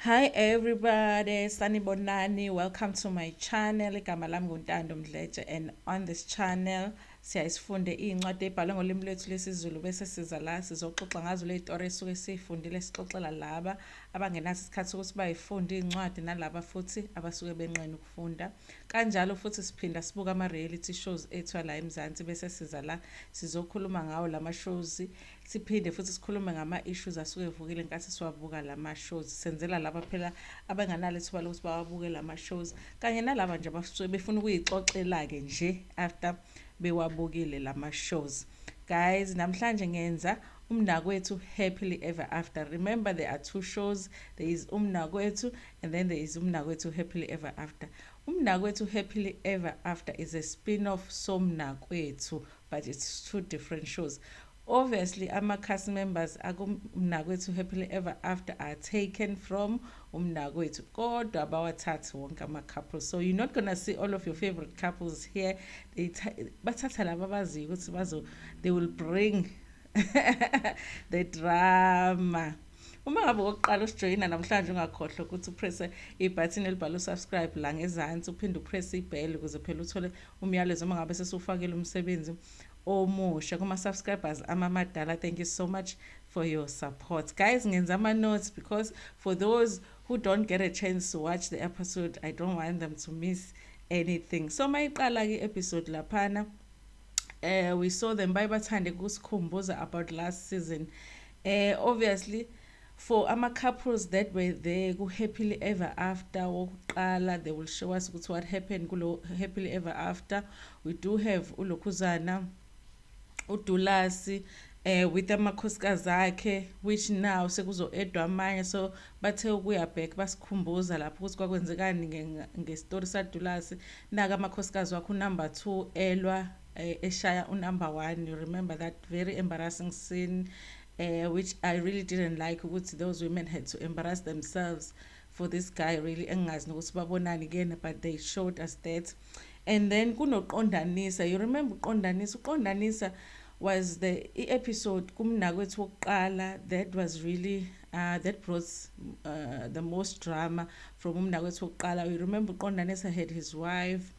Hi everybody, sanibonani. Welcome to my channel. Igama lami nguNtando Mdletshe and on this channel siyaye sifunde iy'ncwadi ey'bhalwe ngolimi lwethu lwesiZulu bese siza la sizoxoxa ngazo ley'tori esuke siy'fundile sixoxela laba abangenaso isikhathi sokuthi bay'funde iy'ncwadi nalaba futhi abasuke benqena ukufunda. Kanjalo futhi siphinda sibuka ama-reality shows ethu ala eMzansi bese siza la sizokhuluma ngawo lama shows Siphinde futhi sikhulume ngama issues asuke evukile ngenkathi siwabuka lama shows. Senzela laba phela abanganalo ithuba lokuthi bawabuke lama shows kanye nalaba nje abasuke befuna ukuyixoxela ke nje after bewabukile lama shows. Guys, namhlanje ngenza umnakwethu happily ever after. Remember there are two shows. There is umnakwethu and then there is umnakwethu happily ever after. Umnakwethu happily ever after is a spin-off somnakwethu but it's two different shows obviously ama cast members akumnakwethu happily ever after are taken from umnakwethu kodwa bawathathi wonke ama couples so you're not gonna see all of your favorite couples here they bathatha laba baziyo ukuthi bazo they will bring the drama uma ngabe wokuqala usijoyina namhlanje ungakhohlwa ukuthi upresse ibhathini elibhalwe subscribe la ngezansi uphinde upresse ibheli ukuze phela uthole umyalezo uma ngabe sesiwufakile umsebenzi omusha kuma subscribers amamadala thank you so much for your support guys ngenza ama notes because for those who don't get a chance to watch the episode i don't want them to miss anything so mayiqala ke episode laphana uh, we saw them baye bathande kusikhumbuza about last season uh, obviously For ama couples that were there ku happily ever after wokuqala they will show us ukuthi what happened kulo happily ever after. We do have u Lokhuzana, u Dulasi eh with amakhosikazi akhe which now sekuzo edwa amanye so bathe ukuya back basikhumbuza lapho ukuthi kwakwenzekani nge story sa Dulasi. Naka amakhosikazi wakho number 2 elwa eh, eshaya u number 1 you remember that very embarrassing scene Uh, which I really didn't like ukuthi those women had to embarrass themselves for this guy really engingazi nokuthi babonani kuyena but they showed us that and then kunoqondanisa you remember uqondanisa uqondanisa was the i-episode kumnakwethu wokuqala that was really uh, that brought uh, the most drama from umnakwethu wokuqala you remember uqondanisa had his wife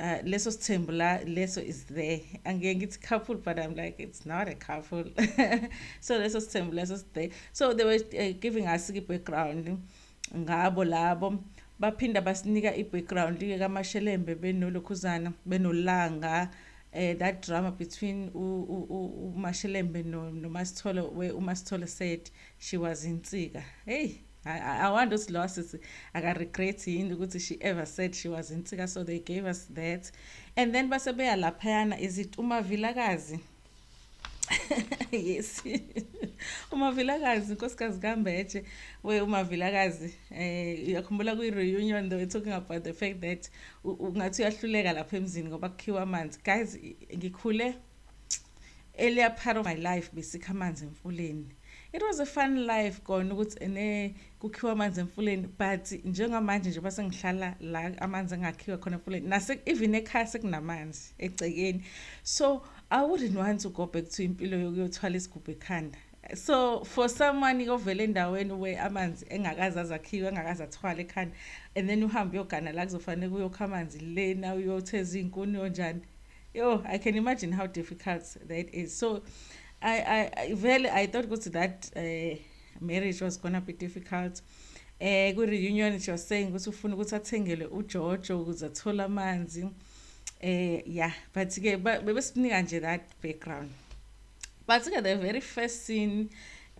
Uh, leso sithembu la leso is there angeke ngithi couple but i'm like it's not a couple so leso sithembu leso is there so they were uh, giving us i-background ngabo labo baphinda basinika i-background ke kamashelembe benolukhuzana benolanga eh that drama between umashelembe nomasithole where umasithole said she was insika hey I, I wonder ukuthi lowa sisi akaregret yini ukuthi she ever said she was insika so they gave us that and then base beya laphayana is it umavilakazi yes umavilakazi inkosikazi kambetshe we umavilakazi eh uyakhumbula kwi-reunion they were talking about the fact that ungathi uyahluleka lapha emzini ngoba kukhiwa amanzi guys ngikhule earlier part of my life besikha amanzi emfuleni it was a fun life kona ukuthi ene kukhiwa amanzi emfuleni but njengamanje nje basengihlala la amanzi engakhiwa khona emfuleni nase even ekhaya sekunamanzi egcekeni so i wouldn't want to go back to impilo yokuyothwala isigubhu ekhanda so for someone ovele endaweni where amanzi engakaze azakhiwe engakaze athwale ekhanda and then uhambe uyogana la kuzofanele kuyokha amanzi lena uyothe ezinkuni yonjani Yo, I can imagine how difficult that is. So, I, I, I really, I thought good that uh, marriage was gonna be difficult. Eh, uh, reunion she was saying ukuthi ufuna ukuthi athengelwe uJojo ukuze athole amanzi. Eh, yeah, but ke bebesinika nje that background. but ke the very first scene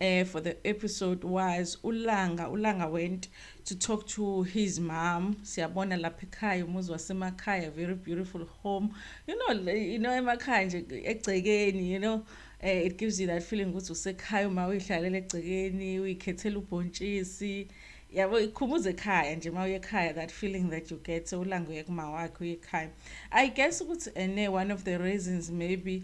uh, for the episode was ulanga ulanga went to talk to his mom siyabona lapha ekhaya umuzi wasemakhaya very beautiful home you know you know emakhaya nje egcekeni you know uh, it gives you that feeling ukuthi usekhaya uma uyihlalela egcekeni uyikhethela ubhontshisi yabo ikhumbuza ekhaya nje uma uye ekhaya that feeling that you get ulanga uye kuma wakhe uye ekhaya i guess ukuthi ene eh, one of the reasons maybe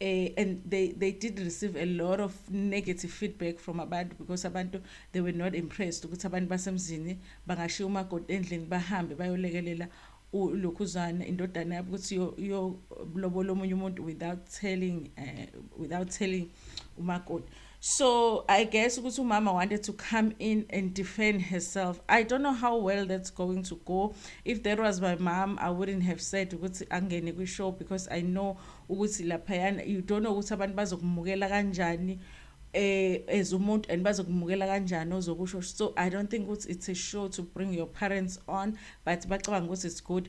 uh, and they they did receive a lot of negative feedback from abantu because abantu they were not impressed ukuthi abantu basemzini bangashiya umakoti endlini bahambe bayolekelela ulokhuzana indodana yabo ukuthi yolobola omunye umuntu without telling uh, without telling umakoti So I guess ukuthi umama wanted to come in and defend herself. I don't know how well that's going to go. If that was my mom, I wouldn't have said ukuthi angene kwi show because I know ukuthi laphayana you don't know ukuthi abantu bazokumukela kanjani eh as umuntu and bazokumukela kanjani ozokusho so i don't think ukuthi it's a show to bring your parents on but bacabanga ukuthi it's good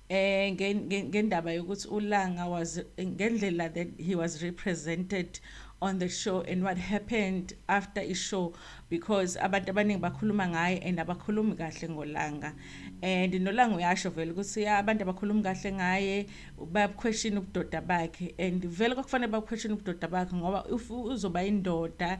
eh ngendaba yokuthi uLanga was ngendlela that he was represented on the show and what happened after i show because abantu abaningi bakhuluma ngaye and abakhulumi kahle ngolanga and nolanga uyasho vele ukuthi abantu abakhulumi kahle ngaye bayabuquestion ubudoda bakhe and vele kwakufanele babuquestion ubudoda bakhe ngoba if uzoba indoda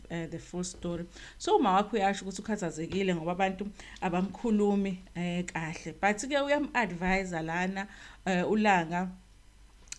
uh, the full story so uma wakho uyasho ukuthi ukhathazekile ngoba abantu abamkhulumi eh kahle but ke uyam advise lana eh, ulanga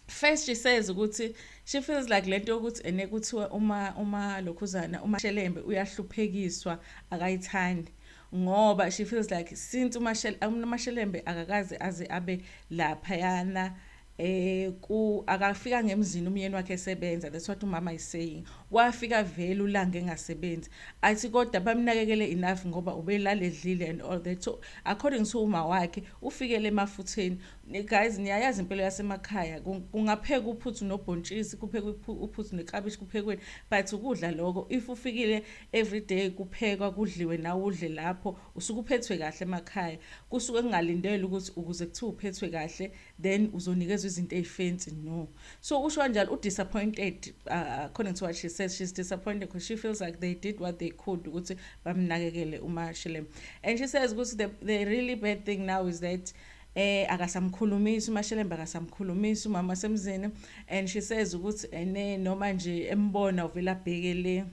first she says ukuthi she feels like lento yokuthi ene kuthiwa uma uma lokhuzana uma shelembe uyahluphekiswa akayithandi ngoba she feels like since umashelembe akakaze aze abe lapha yana eh ku akafika ngemzini umyeni wakhe esebenza that's what umama is saying wafika vele ulanga engasebenzi athi kodwa bamnakekele enough ngoba ubelale edlile and all that so according to uma wakhe ufikele emafutheni guys niyayazi impilo yasemakhaya kungapheka uphuthu nobhontshisi kupheka uphuthu nekabishi kuphekweni but ukudla lokho if ufikile every day kuphekwa kudliwe nawe udle lapho usuke uphethwe kahle emakhaya kusuke kungalindele ukuthi ukuze kuthiwa uphethwe kahle then uzonikezwa izinto ezifancy no so usho kanjalo u disappointed uh, according to what she says she's disappointed because she feels like they did what they could ukuthi bamnakekele uma Shilem and she says ukuthi the, the really bad thing now is that eh akasamkhulumisi umashelemba akasamkhulumisi umama semzini and she says ukuthi ene noma nje embona uvela bhekele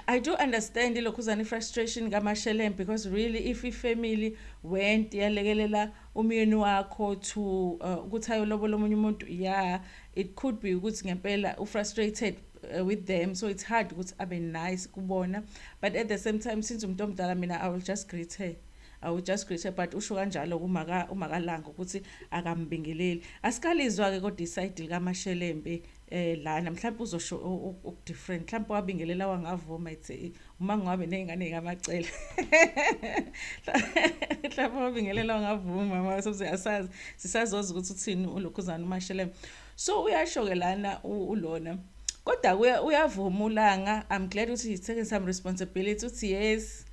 I do understand ilokhuzane frustration kaMashelem because really if ifamily went yalekelela umyeni wakho to uh, ukuthi ayolobola omunye umuntu yeah it could be ukuthi ngempela ufrustrated uh, with them so it's hard ukuthi abe nice kubona but at the same time since umuntu omdala mina I will just greet her I will just greet her but usho kanjalo kumaka umakalanga ukuthi akambingeleli asikalizwa ke kodwa iside lika Mashelembe eh lana mhlawumbe uzosho okudifferent mhlawumbe wabingelela wangavuma ethi uma ngiwabe nezingane kamacela mhlawumbe wabingelela wangavuma mama soze asazi sisazoza ukuthi uthini ulokhuzana umashele so uyasho ke lana ulona kodwa kuya uyavuma ulanga i'm glad ukuthi he's taking some responsibility uthi yes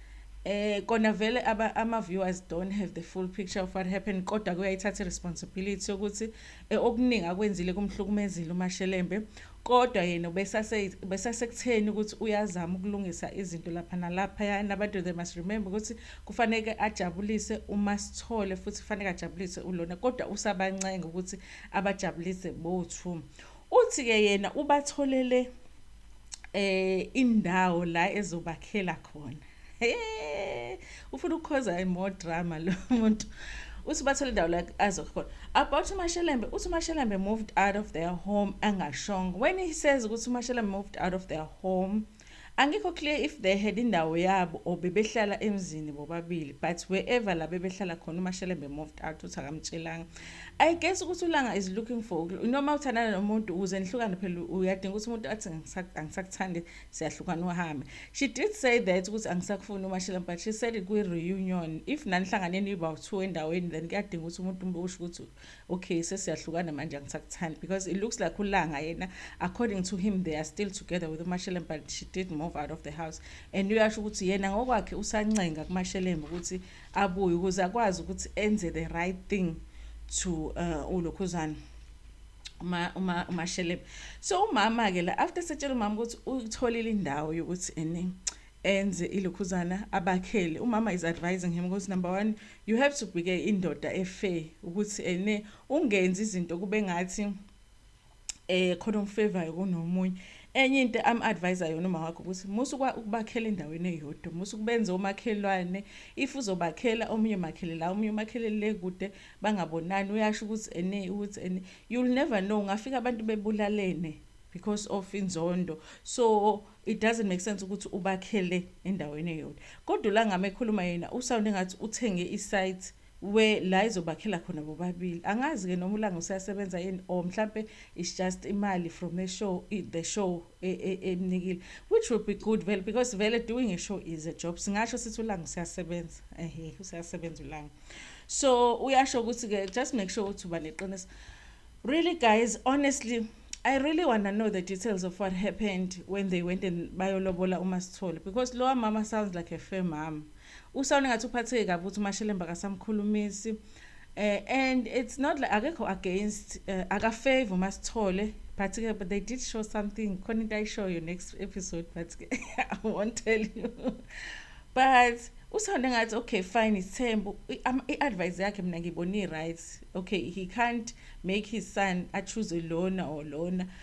eh kona vele ama viewers don't have the full picture of what happened kodwa kuyayithatha responsibility ukuthi E, okuningi akwenzile kumhlukumezile uMashelembe kodwa yena ubesase besasekutheni ukuthi uyazama ukulungisa izinto lapha nalaphaya nabantu they must remember ukuthi kufaneke ajabulise uMasithole futhi kufaneke ajabulise uLona kodwa usabancenga ukuthi abajabulise bothu uthi ke yena ubatholele eh indawo la ezobakhela khona Hey, ufuna ukukhoza more drama lo muntu. Uthi bathole indawo la azokhe khona. About uMashelembe, uthi uMashelembe moved out of their home angashongo. When he says ukuthi uMashelembe moved out of their home, angikho clear if they had indawo yabo or bebehlala emzini bobabili but wherever la bebehlala khona uMashelembe moved out uthi akamtshelanga. I guess ukuthi uLanga is looking for noma uthandana nomuntu ukuze nihlukane phela uyadinga ukuthi umuntu athi angisakuthandi siyahlukana uhambe she did say that ukuthi angisakufuni umashela but she said it kwi-reunion if nanihlangane nibawu-two endaweni then kuyadinga ukuthi umuntu usho ukuthi okay sesiyahlukana manje angisakuthandi because it looks like ulanga yena according to him they are still together with umashelembe but she did move out of the house and uyasho ukuthi yena ngokwakhe usancenga kumashelembe ukuthi abuye ukuze akwazi ukuthi enze the right thing to uh, ulokhuzana uma uma umashelebe so umama ke la after setshela umama ukuthi utholile indawo yokuthi ene enze ilokhuzana abakhele umama is advising him ukuthi number 1 you have to be ke indoda efair ukuthi ene ungenzi izinto kube ngathi eh khona umfevayo kunomunye enye into am advisor yona uma wakho ukuthi musu ukubakhela endaweni eyodwa musu kubenza omakhelwane if uzobakhela omunye makhele la omunye umakhele le kude bangabonani uyasho ukuthi ene ukuthi ene you'll never know ngafika abantu bebulalene because of inzondo so it doesn't make sense ukuthi ubakhele endaweni eyodwa kodwa ulangama ekhuluma yena usound engathi uthenge isite we la izobakhela khona bobabili angazi ke noma ulanga usasebenza yini or mhlambe it's just imali from a show the show emnikile which would be good vele because vele doing a show is a job singasho sithi ulanga usiyasebenza ehe usiyasebenza ulanga so uyasho ukuthi ke just make sure ukuthi uba neqiniso really guys honestly I really want to know the details of what happened when they went and bayolobola uMasithole because lowa mama sounds like a fair mom Usound ngathi uphatheke kabi ukuthi uMashelemba kasamkhulumisi. Uh, and it's not like akekho against uh, eh, akafavor uma sithole but ke but they did show something khona into ayishoyo next episode but ke i won't tell you but usound ngathi okay fine ithembu i-advice yakhe mina ngiyibona i-right okay he can't make his son achoose lona or lona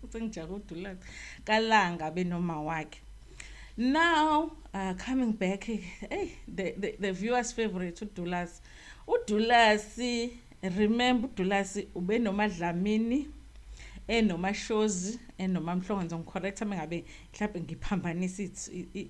futhi ngijake udulaphi kalanga benoma wakhe now uh, coming back hey, eh, the, the, the viewers favorite udulasi udulasi remember udulasi ube nomadlamini enomashozi enomamhlongo ngizongicorrecta uma ngabe mhlawumbe ngiphambanisa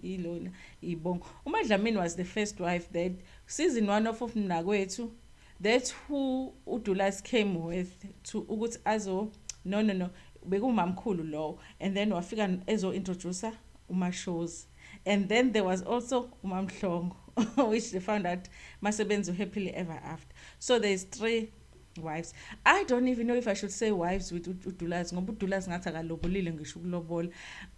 ilona ibongo umadlamini was the first wife that season one of of mnakwethu That's who uDulas came with to ukuthi azo no no no bekumamkhulu lowo and then wafika ezo introducer umashozi and then there was also umamhlongo which they found out masebenza happily ever after so there's three wives i don't even know if i should say wives with udulazi ngoba udulazi ngathi akalobulile ngisho ukulobola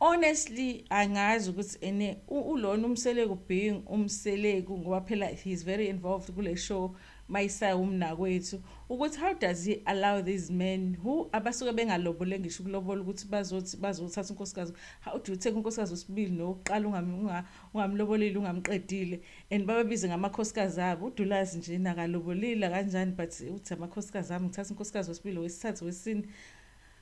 Honestly angazi ukuthi ene ulona umseleku being umseleku ngoba phela he is very involved kule show mayisaya umnakwethu ukuthi how does he allow these men who abasuke bengalobole ngisho ukulobola ukuthi bazothi bazothatha unkosikazi how do you take unkosikazi usibili nokuqala ungamlobolile ungamqedile and bababize ngamakhosikazi abo udulazi nje nakalobolile kanjani but uthi amakhosikazi ami ngithatha unkosikazi wesibili wesithathu wesini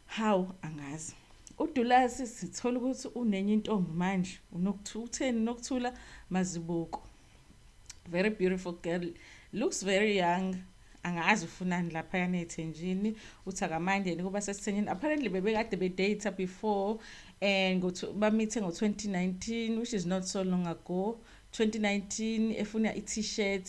Hawu angazi. UDulasi sithola ukuthi unenye intombi manje. Unokuthukutheni Nokuthula Mazibuko. Very beautiful girl. Looks very young. Angazi ufunani lapha yana ethenjini. Uthi akamandi yena kuba sesithenjini. Apparently bebekade be data before and go to bamithe ngo 2019 which is not so long ago. 2019 efuna i-t-shirt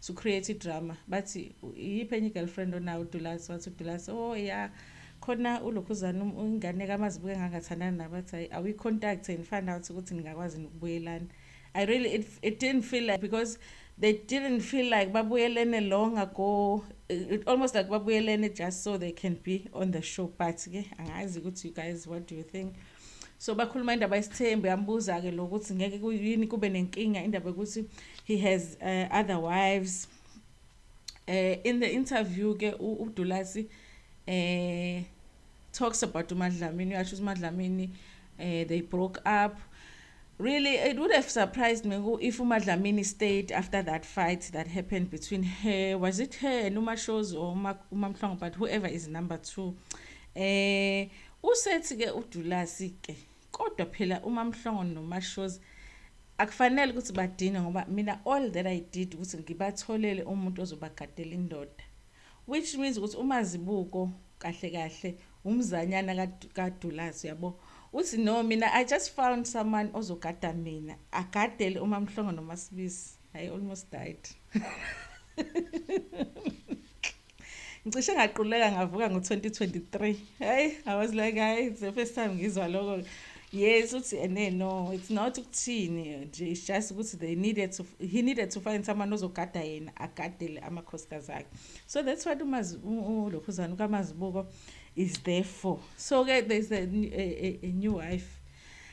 su create idrama bathi iyiphi enye igirlfriend onayo uDulasi wathi uDulasi oh ya khona ulokhuzana um, ingane kamazibuke ngangathandana naye bathi hayi awi contact and find out ukuthi ningakwazi ukubuyelana I really it, it didn't feel like because they didn't feel like babuyelene long ago it almost like babuyelene just so they can be on the show but ke angazi ukuthi you guys what do you think so bakhuluma indaba yesithembu yambuza-ke lo ukuthi ngeke kuyini kube nenkinga indaba yokuthi he has uh, other wives uh, in the interview-ke udulasi uh, eh, talks about umadlamini uyasho ukuthi umadlamini uh, they broke up really it would have surprised me if umadlamini stayed after that fight that happened between her was it her and umashozi or umamhlongo but whoever is number two um uh, Usethi ke uDulasi ke kodwa phela uMamhlongo noMashozi akufanele ukuthi badinwe ngoba mina all that I did ukuthi ngibatholele umuntu ozobagadela indoda which means ukuthi uMazibuko kahle kahle umzanyana kaDulasi yabo uthi no mina I just found someone ozogada mina agadele uMamhlongo noMasibisi I almost died ngicishe ngaquleka ngavuka ngo-2023 hayi i was like hayi it's the first time ngizwa lokho yes uthi ene eh, no it's not ukuthini nje it's just ukuthi they needed to he needed to find someone ozogada yena agadele amakhosikazi akhe so that's what ulokhuzana ukamazibuko is there for so-ke there's a, a, a, a new wife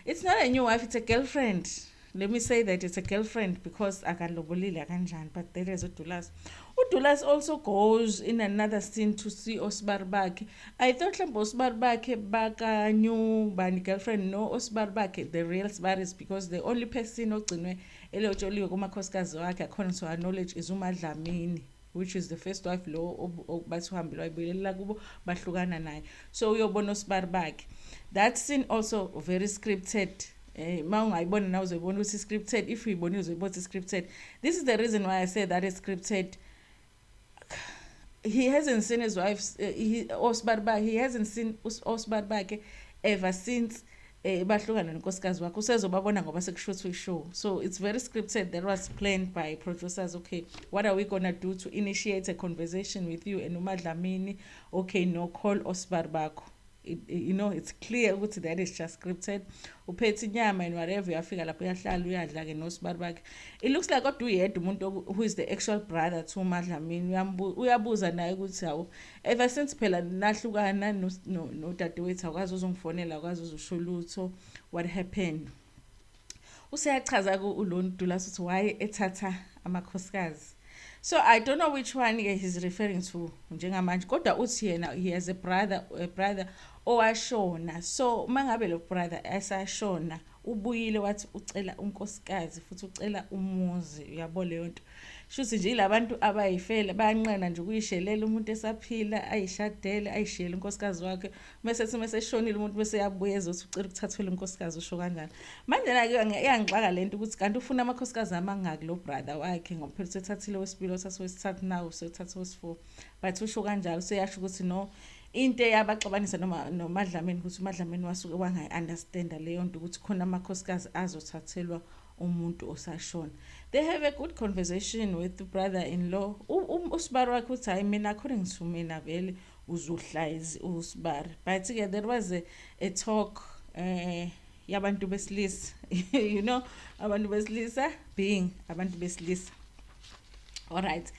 it's not a new wife it's a girlfriend let me say that it's a girlfriend because akalobolile akanjani but there is udulas udulas also goes in another scene to see osibari bakhe i thought mhlawumbe osibari bakhe bakanyu bani girlfriend no osibari bakhe the real sibari is because the only person ogcinwe elotsholiwe kumakhosikazi wakhe according to our knowledge is umadlamini which is the first wife lo bathi uhambile wayibuyelelela kubo bahlukana naye so uyobona osibari bakhe that scene also very scripted eh uma ungayibona nawe uzoyibona ukuthi scripted if uyibonile uzoyibona ukuthi scripted this is the reason why i say that is scripted he hasn't seen his wife uh, he, osibari bakhe he hasn't seen osibari bakhe ever since eh bahlukane nonkosikazi wakho usezobabona ngoba sekushuthwa ishow so it's very scripted that was planned by producers okay what are we gonna do to initiate a conversation with you and umadlamini okay no call osbar bakho you know it's clear ukuthi that is just scripted uphethe inyama and whatever uyafika lapho uyahlala uyadla-ke nosibari bakhe it looks like kodwa uyedwa umuntu who is the actual brother to umadlamini uyabuza naye ukuthi hawu Ever since phela nahlukana nodadewethu no, no akwazi uzongifonela akwazi uzosho lutho what happened useyachaza ku ulon dulas ukuthi why ethatha amakhosikazi so i don't know which one ke he's referring to njengamanje kodwa uthi yena he has a brother a brother owashona so uma ngabe lo brother esashona oh, ubuyile wathi ucela unkosikazi futhi ucela umuzi uyabo leyo nto shuthi nje ilabantu abayifele bayanqena nje ukuyishelela umuntu esaphila ayishadele ayishiyele unkosikazi wakhe bese sithi meseshonile umuntu bese yabuya ezothi ucela ukuthathelwa unkosikazi usho kanjalo manje nake iyangixaka lento ukuthi kanti ufuna amakhosikazi amangaki lo brother wakhe ngoba phela uthathathile wesibili othatha wesithathu nawo usothatha wesifour but usho kanjalo seyasho ukuthi no into eyabaxabanisa noma nomadlameni ukuthi umadlameni wasuke wangayi-understanda leyo nto ukuthi khona amakhosikazi azothathelwa umuntu osashona they have a good conversation with brother in law usibari wakhe uthi hhayi mina according to mina vele uzohlayizi usibari but ke there was a, a talk um yabantu besilisa you know abantu besilisa being abantu besilisa alright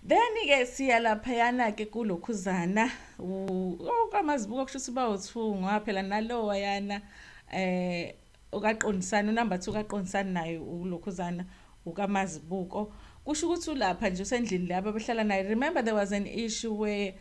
then-ke siya laphayana-ke kulokhuzana okamazibuko oh, kusho ukuthi bawuthungwa phela nalowa yana eh okaqondisana unumber two kaqondisana naye ulokhuzana ukamazibuko kusho ukuthi ulapha nje usendlini laba behlala naye remember there was an issue where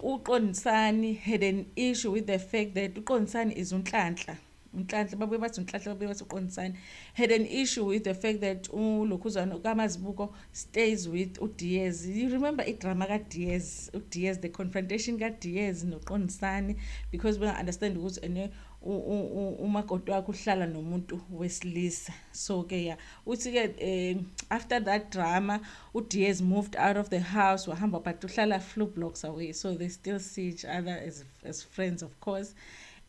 uqondisani had an issue with the fact that uqondisani is unhlanhla Nhlanhla babuye bathi uNhlanhla babuye bathi uQondisani had an issue with the fact that uLokhuzana uKamazibuko stays with uDiaz. You remember idrama kaDiaz, uDiaz the confrontation kaDiaz noQondisani because benga-understand ukuthi ene umakoti wakhe uhlala nomuntu wesilisa. So ke ya uthi-ke um after that drama uDiaz moved out of the house wahamba but uhlala few blocks away so they still see each other as, as friends of course.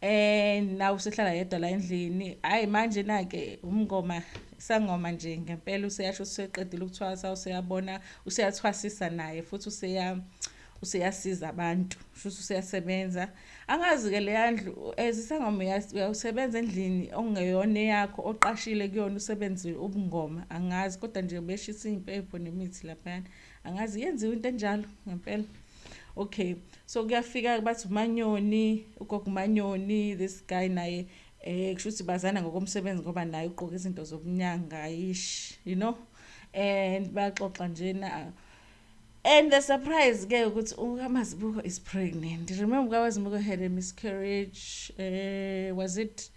Eh nawe usehlala yedwa la endlini. Hayi manje nake umngoma sangoma nje ngempela useyasho useqedile ukuthwasa useyabona useyathwasisa naye futhi useya useyasiza abantu futhi useyasebenza angazi ke leya ndlu ezisangoma uyasebenza endlini ongeyona yakho oqashile kuyona usebenzile ubungoma angazi kodwa nje beshisa impepho nemithi lapha angazi yenziwa into enjalo ngempela okay so kuyafika bathi umanyoni ugogo umanyoni this guy naye eh kusho ukuthi bazana ngokomsebenzi ngoba naye ugqoka izinto zokunyanga yish you know and bayaxoxa njena and the surprise ke ukuthi ukamazibuko is pregnant remember ukamazibuko had a miscarriage eh was it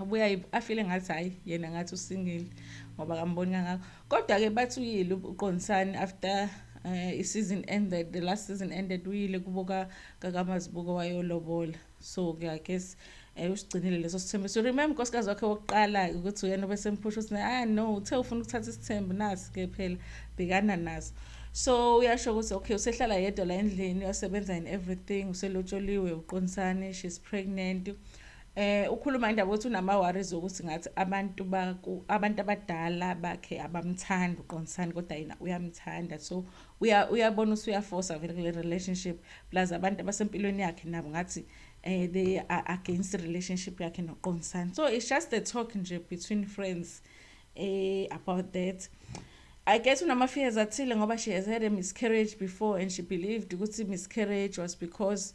abuya afile ngathi hayi yena ngathi usingile ngoba kamboni kangako kodwa-ke bathi uyile uqondisani after uh, i-season ended the last season ended uyile kubo kakamazibuko wayolobola so ke i guess um usigcinile leso sithembu so remember unkosikazi wakhe wokuqala-ke ukuthi uyena obesempusha ukuthi ah no uthe ufuna ukuthatha isithembu nasi-ke phela bhekana naso so uyasho ukuthi okay usehlala yedwa la endlini uyasebenza in everything uselotsholiwe uqondisani she's pregnant Eh ukhuluma indaba ukuthi unama worries ukuthi ngathi abantu baku abantu abadala bakhe abamthandi uqondisani kodwa yena uyamthanda so uya uyabona usuyaforce vele kule relationship plus abantu abasempilweni yakhe nabo ngathi eh they are against the relationship yakhe noqondisani so it's just a talk nje between friends eh about that I guess unama fears athile ngoba she has had a miscarriage before and she believed ukuthi miscarriage was because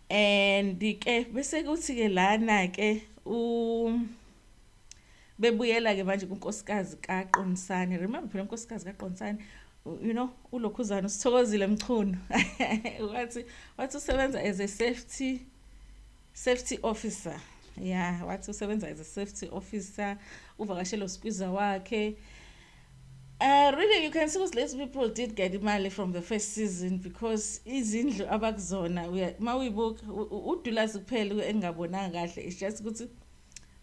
And ke bese kuthi ke lana ke u bebuyela ke manje kunkosikazi kaQonisani remember phela unkosikazi kaQonisani you know ulokhuzana usithokozile mchunu wathi wathi usebenza as a safety safety officer yeah wathi usebenza as a safety officer uvakashelo skwiza wakhe Uh, really you can see ukuthi lezi people did get imali from the first season because izindlu abakuzona uma uyibuka udulazi kuphela engingabonanga kahle it's just ukuthi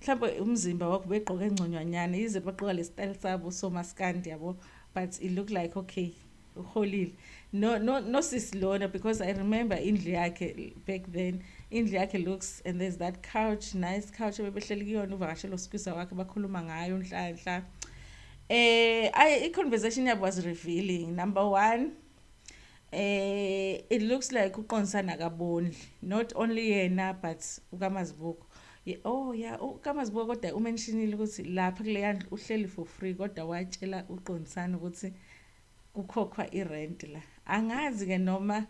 mhlawumbe umzimba wakho begqoke ngconyanyana yize baqoka le style sabo somaskandi yabo but it look like okay uholile no no no sis lona because i remember indlu yakhe back then indlu yakhe looks and there's that couch nice couch ebebehleli kuyona uvakashela usikwisa wakhe bakhuluma ngayo unhlanhla eh i i conversation yabo was revealing number 1 eh it looks like uqonsana kabondli not only yena but ukamazibuko oh ya yeah, ukamazibuko kodwa umentionile ukuthi lapha kuleyandlu uhleli for free kodwa watshela uqonsana ukuthi kukhokhwa i rent la angazi ke noma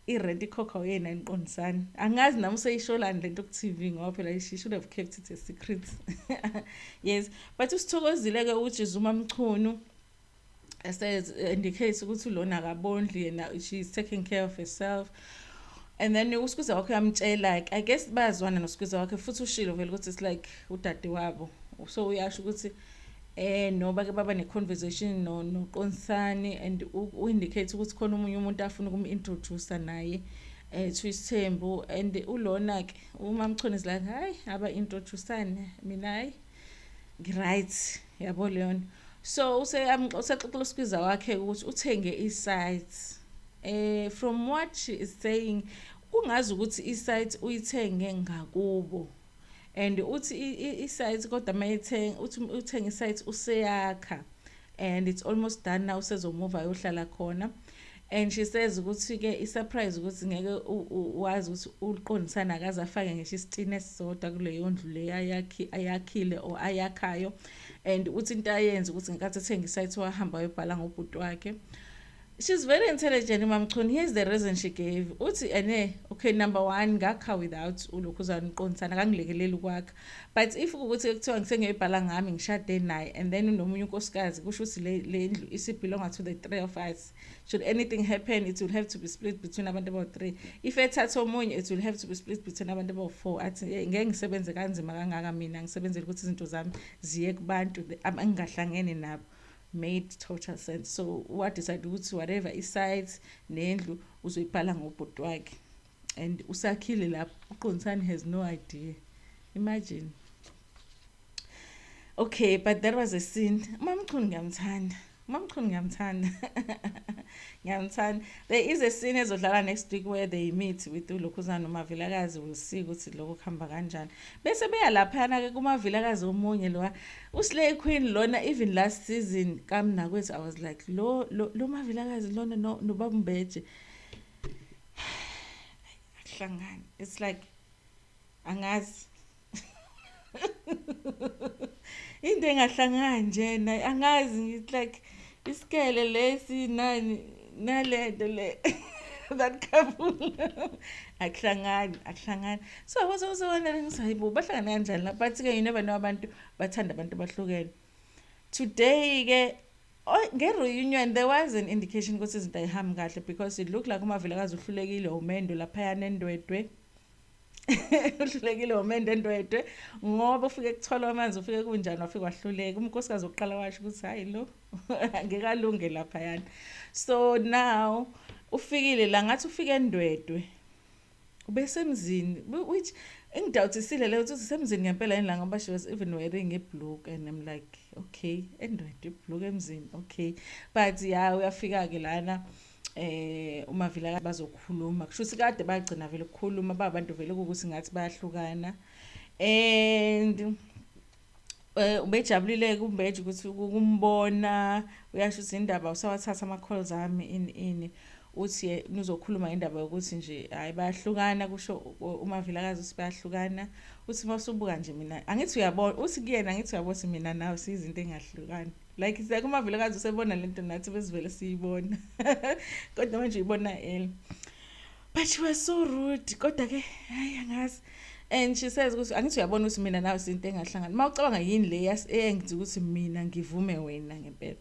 i rent ikhokhwa uyena eniqondisani angazi nami useyisholani lento ku TV ngoba phela she should have kept it a secret yes but usithokozile ke ukuthi Zuma Mchunu says indicates ukuthi lona akabondli yena she is taking care of herself and then usikhwiza wakhe uyamtshela like i guess bayazwana nosikwiza wakhe futhi ushilo vele ukuthi it's like udade wabo so uyasho ukuthi eh no bake baba ne conversation no no Qonsani and u indicate ukuthi khona umunye umuntu afuna ukum introduce naye eh to isithembu and ulona ke uma mchone izilanga hayi aba introduceane mina hayi ngiright yabo leyona so use usexoxela usikiza wakhe ukuthi uthenge i sites eh from what she is saying kungazi ukuthi i site uyithenge ngakubo and uthi i-site kodwa uma ethenga uthi uthenga i-site useyakha and it's almost done now usezomuva ayohlala khona and she says ukuthi-ke i-surprise ukuthi ngeke wazi ukuthi uliqondisana akaze afake ngisho isitini esisodwa kuleyo ndlu le ayakhile or ayakhayo and uthi into ayenza ukuthi ngenkathi ethenga i-site wahamba wayobhala ngobhuti wakhe She's very intelligent uMamchunu. Here's the reason she gave. Uthi ene okay number 1 ngakha without ulokhuzana uqondisana kangilekeleli ukwakha. But if ukuthi ekuthiwa ngisengiyibhala ngami ngishade naye and then unomunye unkosikazi kusho ukuthi le lendlu isi belong to the three of us. Should anything happen it will have to be split between abantu about three. If ethatha omunye it will have to be split between abantu about four. Athi ngeke ngisebenze kanzima kangaka mina ngisebenzele ukuthi izinto zami ziye kubantu abangingahlangene nabo. made total sense so wa decide ukuthi whatever i sites nendlu uzoyibhala ngobhuti wakhe and usakhile lapho uqondisani has no idea imagine okay but that was a sin umamchunu ngiyamthanda umamchunu ngiyamthanda ngiyamthanda there is a scene ezodlala next week where they meet with ulokhuzana umavilakazi will see ukuthi lokho kuhamba kanjani bese beya laphayana-ke kumavilakazi omunye lowa U slay queen lona even last season ka Mnakwethu I was like lo lo, lo mavilakazi lona no no babu Mbeje. Hlangani. It's like angazi. Into engahlangani nje naye angazi ngithi like isikele lesi nani nalento le that couple akuhlangani akuhlangani so i was also wondering sayibo bahlangana kanjani la but ke you never know abantu bathanda abantu bahlukene today ke oh, nge-reunion there was an indication ukuthi izinto ayihambi kahle because it looked like umavelekazi uhlulekile umendo laphayana endwedwe uhlulekile womendo endwedwe ngoba ufike kuthola amanzi ufike kunjani wafike wahluleka umnkosikazi wokuqala washo ukuthi hhayi lo ngeke alunge laphayana so now ufikile la ngathi ufike endwedwe ubesemzini which engidawuthisile leyo ukuthi usemzini ngempela yini la ngoba she was even wearing ibluke and i'm like okay endwedwe ibluke emzini okay but ya uyafika-ke lana eh uma vila bazokhuluma kusho ukuthi kade bagcina vele ukukhuluma babantu vele ukuthi ngathi bayahlukana and Eh, ubejabulile kumbeje ukuthi ukumbona uyasho ukuthi indaba usawathatha ama-calls ami ini ini uthi ye nizokhuluma indaba yokuthi nje hhayi bayahlukana kusho umavilakazi ukuthi bayahlukana uthi uma usubuka nje mina angithi uyabona uthi kuyena angithi uyabona ukuthi mina nawe siyizinto engahlukani like it's like umavilakazi usebona le nto nathi besivele siyibona kodwa manje uyibona ele but you were so rude kodwa-ke hhayi angazi and she says ukuthi angithi uyabona ukuthi mina nawe sinto engahlangani uma ucabanga yini le eyenza ukuthi mina ngivume wena ngempela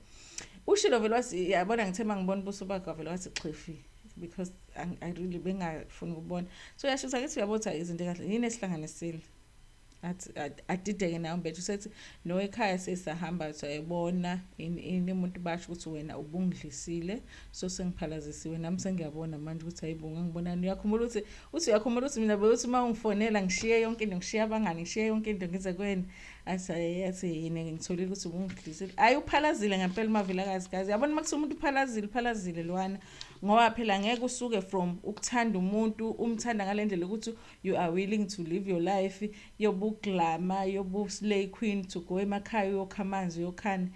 ushilo vele wathi yabona ngithe uma ngibona ubuso bakho vele wathi xhifi because i really bengafuni ukubona so yashisa ngithi uyabona ukuthi izinto kahle yini esihlanganisile adideke nayo mbethu sethi no ekhaya sesahamba sayibona ini umuntu basho ukuthi wena ubungidlisile so sengiphalazisiwe nami sengiyabona manje ukuthi hayibo ngangibonani uyakhumbula ukuthi Uthi uyakhumbula ukuthi mina bewuthi uma ungifonela ngishiye yonke into ngishiye abangani ngishiye yonke into ngize kweni athi athi yini ngitholile ukuthi ubungidlisile hayi uphalazile ngempela umavilakazi kazi yabona uma kuthiwa umuntu uphalazile uphalazile lwana ngoba phela ngeke usuke from ukuthanda umuntu umthanda ngale ndlela ukuthi you are willing to live your life yobuglama yobuslay queen to go emakhaya uyokha amanzi uyokhani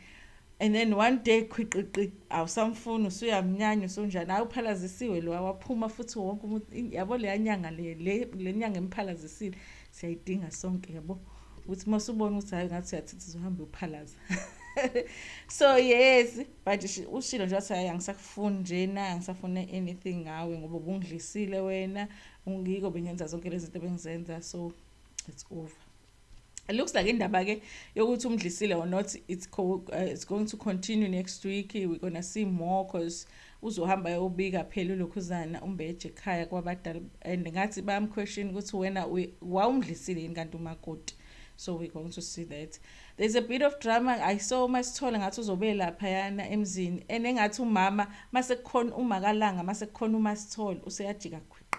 And then one day khwiqiqi awusamfuni usuyamnyanya usunjani hayi uphalazisiwe lo waphuma futhi wonke umuntu yabo leya nyanga le le nyanga emphalazisile siyayidinga sonke yabo ukuthi uma usubona ukuthi hayi ngathi uyathitha uzohambe uphalaza so yes but ushilo nje wathi hayi angisakufuni njena angisafune anything ngawe ngoba ubungidlisile wena ungiko bengenza zonke lezi zinto bengizenza so it's over It looks like indaba ke yokuthi umdlisile or not it's, co uh, it's going to continue next week we're gonna see more cause uzohamba yobika phela ulokhuzana umbeje ekhaya kwabadala and ngathi bamquestion ukuthi wena wawumdlisile yini kanti umakoti so we're going to see that there's a bit of drama i saw masithole ngathi uzobe lapha yana emzini and engathi umama masekukhona umakalanga masekukhona umasithole useyajika khwiqa